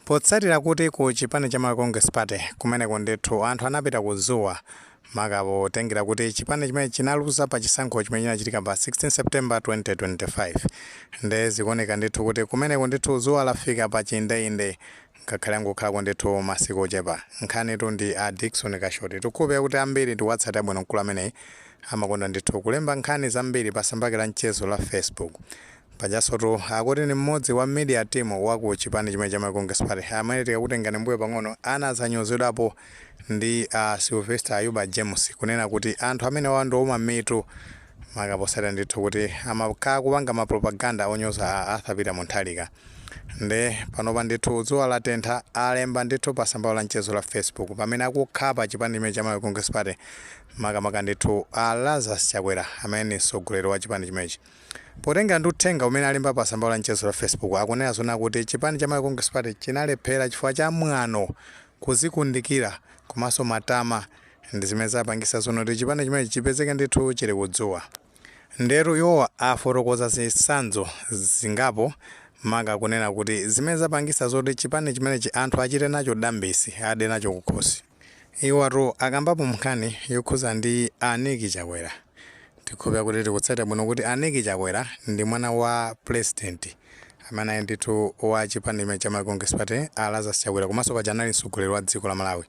Potsatira kuti ku chipani cha Malawi Congress Party kumeneko ndithu anthu anapita ku dzuwa maka potengera kuti chipani chimene chinaluza pa chisankho chimene chinachitika pa 16 September 2025 nde zikuoneka ndithu kuti kumeneko ndithu dzuwa lafika pa chiindeinde ngakhale angokhalako ndithu masiku ochepa. Nkhanitu ndi a Dickson Kashoti. Tikhulupirira kuti ambiri tikuwatsatira bwino mkulu ameneyi amakonda ndithu kulemba nkhani zambiri pa tsamba lake la mchezo la Facebook. Pajansotu akuti ndi mmodzi wa media team wa ku chipani chimene cha Malawi Congress Party amene tikakutengani mbuyo pang'ono anadzanyozedwapo ndi a Sylvester Ayuba James kunena kuti anthu amenewa ndi ouma mitu maka potsatira ndithu kuti amakhala akupanga ma propaganda onyoza a Arthur Peter Mutharika. Nde panopa ndithu dzuwa latentha alemba ndithu pa tsamba lawo la mchezo la Facebook pamene akukhapa chipani chimene cha Malawi Congress Party makamaka ndithu a Lazarus Chakwera amene ndi mtsogoleri wa chipani chimenechi. Potengera ndi uthenga umene alemba pa tsamba lao la mchezo la Facebook, akunena zoona kuti chipani cha Malawi Congress Party chinalephera chifukwa cha mwano, kudzikundikira komanso matama ndi zimene zapangitsa zoona kuti chipani chimenechi chipezeke ndithu chili ku dzuwa. Ndetu iwo afotokoza zitsanzo zingapo maka kunena kuti zimene zapangitsa zoti chipani chimenechi anthu achite nacho dambisi, ade nacho kukhosi. Iwotu akambapo nkhani yokhuza ndi a Nick Chakwera tikhulupirira kuti tikutsatira bwino kuti a Nick Chakwera ndi mwana wa president amene anali ndithu wa chipani chimene cha Malawi Congress Party a Lazarus Chakwera komanso paja anali mtsogoleri wa dziko la Malawi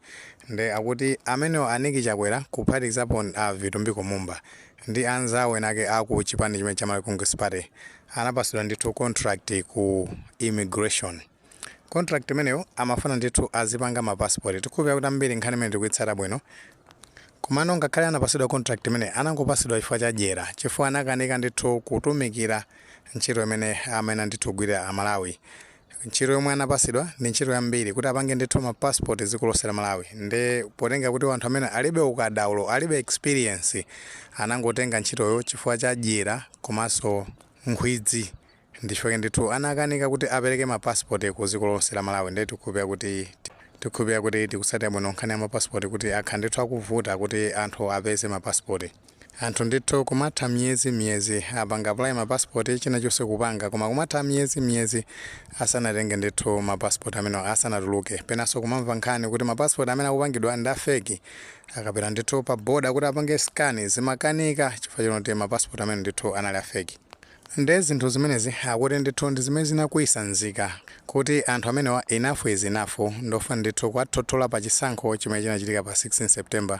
nde akuti amenewa a Nick Chakwera kuphatikizapo a Vitumbiko Mumba ndi anzawo enaake a ku chipani chimene cha Malawi Congress Party anapatsidwa ndithu contract ku immigration Contract imeneyo amafuna ndithu azipanga ma passport. Tikhulupirira kuti ambiri nkhani imeneyi tikuitsata bwino. Komano ngakhale anapatsidwa contract imeneyi, anangopatsidwa chifukwa cha dyera, chifukwa anakanika ndithu kutumikira ntchito imene amayenera ndithu kugwirira a Malawi. Ntchito yomwe anapatsidwa ndi ntchito yambiri, kuti apange ndithu ma passport dziko lonse la Malawi. Nde potengera kuti anthu amenewa alibe ukadaulo, alibe experience, anangotenga ntchitoyo chifukwa cha dyera komanso nkhwidzi. Ndi chifukwa chake ndithu anakanika kuti apereke ma passport ku dziko lonse la Malawi nde tikhulupirira kuti tikutsatira bwino nkhani ya ma passport kuti akhala ndithu akuvuta kuti anthu apeze ma passport anthu ndithu kumatha miyezi miyezi apanga apply ma passport china chonse kupanga koma kumatha miyezi miyezi asanatenge ndithu ma passport amenewa asanatuluke penanso kumamva nkhani kuti ma passport amene akupangidwa ndi a fake akapita ndithu pa border kuti apange scan zimakanika chifukwa choti ma passport amenewa ndithu anali a fake Nde zinthu zimenezi akuti ndithu ndi zimene zinakwiyisa nzika kuti anthu amenewa enough is enough ndofuna ndithu kuwathothola pa chisankho chimene chinachitika pa 16 September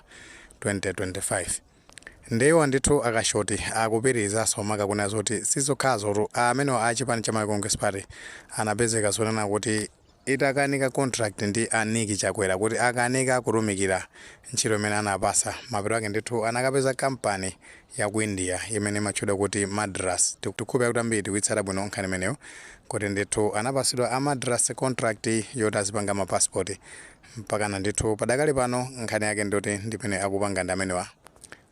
2025. Nde iwo ndithu a Kashoti akupitirizanso maka kunena zoti sizokhazotu amenewa a chipani cha Malawi Congress Party anapezeka zoona kuti. itakanika contract ndi a Nick Chakwera kuti akanika kutumikira ntchito imene anawapasa mapeto ake ndithu anakapeza kampani ya ku India imene imatchedwa kuti Madras tikukhulupira kuti ambiri tikuitsata bwino nkhani imeneyo kuti ndithu anapasidwa a Madras contract yoti azipanga ma passport mpakana ndithu padakali pano nkhani yake ndiyoti ndimene akupanga ndi amenewa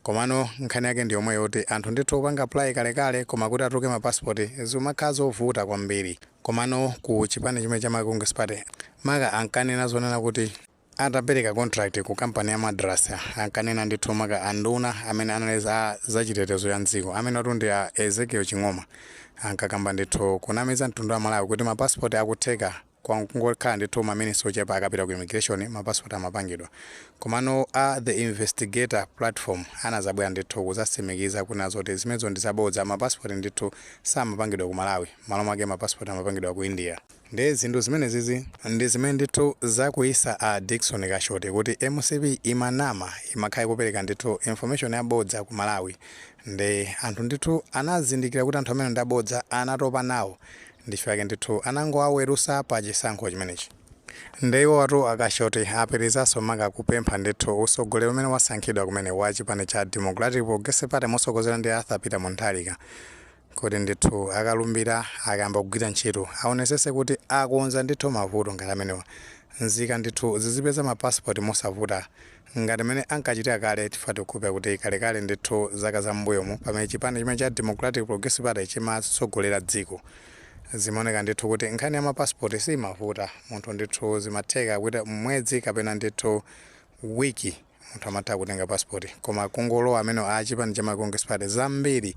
komano nkhani yake ndi yomwe yoti anthu ndithu apanga apply kalekale koma kuti atuluke ma passport zikumakhala zovuta kwambiri Komano ku chipani chimene cha Malawi Congress Party maka ankanena zonena kuti atapereka contract ku kampani ya Madras ankanena ndithu maka anduna amene anali za zachitetezo cha m'dziko amenewatu ndi a Ezekiel Ching'oma ankakamba ndithu kunamiza mtundu wa aMalawi kuti ma passport akutheka kwangokhala ndithu ma minutes ochepa akapita ku immigration ma passport amapangidwa. Komano a The Investigator Platform anazabwera ndithu kuzasimikiza kunena zoti zimenezo ndi zabodza ma passport ndithu samapangidwa ku Malawi. Mmalo mwake ma passport amapangidwa ku India nde zinthu zimenezizi ndi zimene ndithu zakwiisa a Dickson Kashoti kuti mcp imanama imakhala ikupeleka ndithu information yabodza kwa aMalawi nde anthu ndithu anazindikila kuti anthu amenewa ndi abodza anatopa nawo ndi chifukwa chake ndithu anangowawelusa pa chisankho chimenechi nde iwowatu a Kashoti apitilizaso maka kupempha ndithu usogoleri umene wasankhidwa kumene wa chipani cha Democratic Progressive Party mosogozedwa ndi a Arthur Peter Munthalika kuti ndithu akalumbira akayamba kugwira ntchito aonesese kuti akonza ndithu mavuto ngati amenewa nzika ndithu zizipeza ma passport mosavuta ngati mene ankachitira kale chifukwa tikukhulupira kuti kalekale ndithu zaka za m'mbuyomu pamene chipani chimene cha democratic progressive party chimatsogolera dziko zimaoneka ndithu kuti nkhani ya mapasipoti simavuta munthu ndithu zimatheka kuti mwezi kapena ndithu wiki munthu amatha kutenga passport koma kungolowa amene a chipani cha Malawi congress party zambiri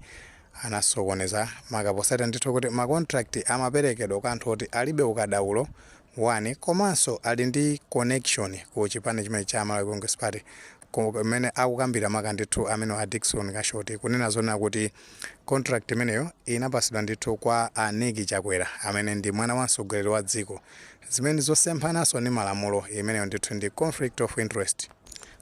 anasokoneza makaposatu ndithu kuti ma contract amaperekedwa kwa anthu oti alibe ukadaulo wani komanso ali ndi connection ku chipani chimene cha malawi congress party kumene akukambira maka ndithu amene a dickson kashoti kunena zonena kuti contract imeneyo inapasidwa ndithu kwa a Nick Chakwera amene ndi mwana wa mtsogoleri wa dziko zimene zosemphananso ndi malamulo, imeneyo ndithu ndi conflict of interest,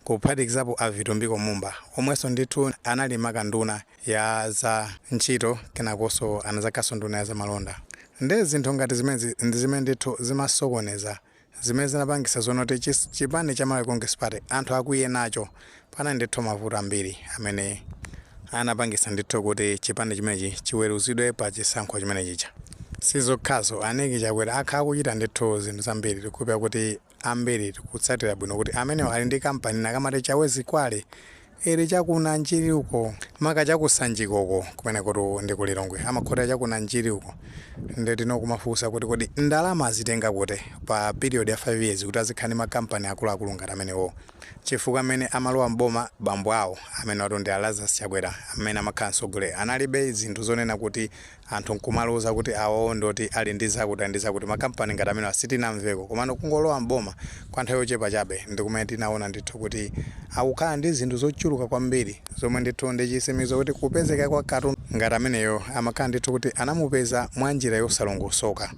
kuphatikizapo a Vitumbiko Mumba omwenso ndithu anali maka nduna ya za ntchito kenakonso anazakhalanso nduna ya za malonda. Nde zinthu ngati zimenezi ndi zimene ndithu zimasokoneza, zimene zinapangitsa zonena kuti chipani cha Malawi Congress Party anthu akwiye nacho Panali ndithu mavuto ambiri amene anapangitsa ndithu kuti chipani chimenechi chiweruzidwe pa chisankho chimene chija. Sizokhazo, a Nick Chakwera akhala akuchita ndithu zinthu zambiri, tikukhulupirira kuti ambiri tikutsatira bwino kuti amenewa ali ndi kampani ina akamati Chawezi Quarry ili cha ku Nanjiri uko, maka cha ku Sanjika uko, kumenekotu ndi ku Lilongwe, amakhotera cha ku Nanjiri uko, nde tinokumafunsa kuti kodi ndalama azitenga kuti pa period ya 5 years kuti azikhala ndi makampani akuluakulu ngati amenewo. Chifukwa mmene amalowa m'boma bambo awo, amenewatu ndi a Lazarus Chakwera amene amakhala mtsogoleri, analibe zinthu zonena kuti anthu n'kumaloza kuti awowo ndi oti ali ndi zakuti ndi zakuti. Makampani ngati amenewa sitinamveko. Komano kungolowa m'boma kwa nthawi yochepa chabe ndi kumene tinaona ndithu kuti akukhala ndi zinthu zochuluka kwambiri zomwe ndithu ndi chitsimikizo kuti kupezeka kwa katundu ngati ameneyo amakhala ndithu kuti anamupeza mwa njira yosalongosoka.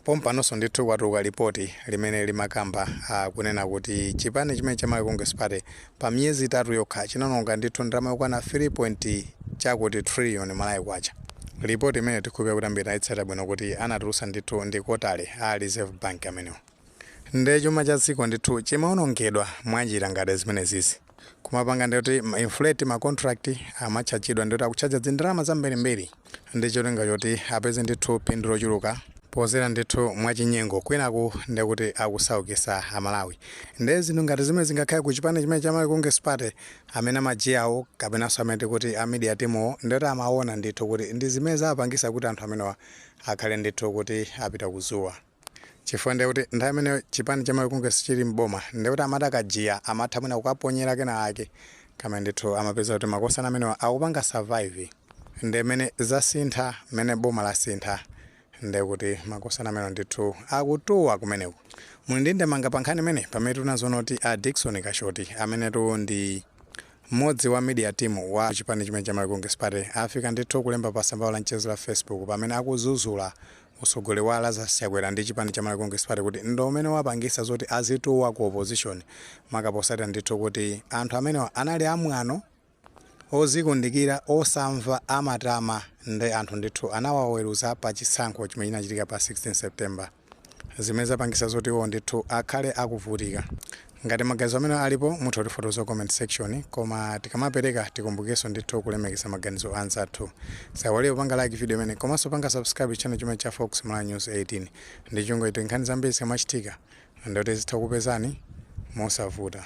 Pompanonso ndithu kwatuluka lipoti limene limakamba, a, kunena kuti chipani chimenechi cha Malawi Congress Party pa miyezi itatu yokha chinaononga ndithu ndalama yokwana 3 point chakuti trillion Malawi kwacha. Lipoti imeneyo tikukhulupirira kuti ambiri tinaitsatira bwino kuti anatulutsa ndithu ndi kotere a Reserve Bank amenewo. Nde chuma cha dziko ndithu chimaonongedwa mwa njira ngati zimenezizi. kumapanga ndikuti ma inflate ma contract amatchajidwa ndikuti akutchaja zindalama zambirimbiri ndi cholinga choti apeze ndithu phindu lochuluka podzera ndithu mwachinyengo kwinaku ndikuti akusaukisa amalawi nde zinthu ngati zimenezi ngakhale ku chipani chimene cha Malawi Congress Party amene amajiyawo kapenanso amene tikuti a media teamwo ndikuti amaona ndithu kuti ndi zimene zapangitsa kuti anthu amenewa akhale ndithu kuti apita kuzuwa chifukwa ndiye kuti nthawi imene chipani cha Malawi Congress chili m'boma ndiye kuti amati akajiya amatha mwina kuwaponyera kenakake koma ndithu amapeza kuti makosana amenewa akupanga survive ndiye mmene zasintha mmene boma lasintha ndiye kuti makosana amenewa ndithu akutuwa kumeneko muli ndi ndemanga pa nkhani imeneyi pamene tinaziona kuti a Dickson Kashoti amenetu ndi mmodzi wa media team wa chipani chimene cha Malawi Congress Party afika ndithu kulemba pa tsamba la mchezo la Facebook pamene akuzuzula Utsogoleri wa Lazarus Chakwera ndi chipani cha Malawi Congress Party kuti ndo umene wapangitsa zoti azituwa ku opposition maka potsatira ndithu kuti anthu amenewa anali a mwano, ozikundikira, osamva, amatama nde anthu ndithu anawaweruza pa chisankho chimene chinachitika pa 16 September zimene zapangitsa zoti iwowo ndithu akhale akuvutika. Ngati maganizo amenewa alipo mutha kutifotokozera ku comment section koma tikamapereka tikumbukirenso ndithu kulemekeza maganizo a anzathu. Tisaiwalire kupanga like video imeneyi komanso kupanga subscribe channel chimene cha Fox Malawi News 18 ndi cholinga choti nkhani zambiri zikamachitika ndiye kuti zizitha kukupezani mosavuta.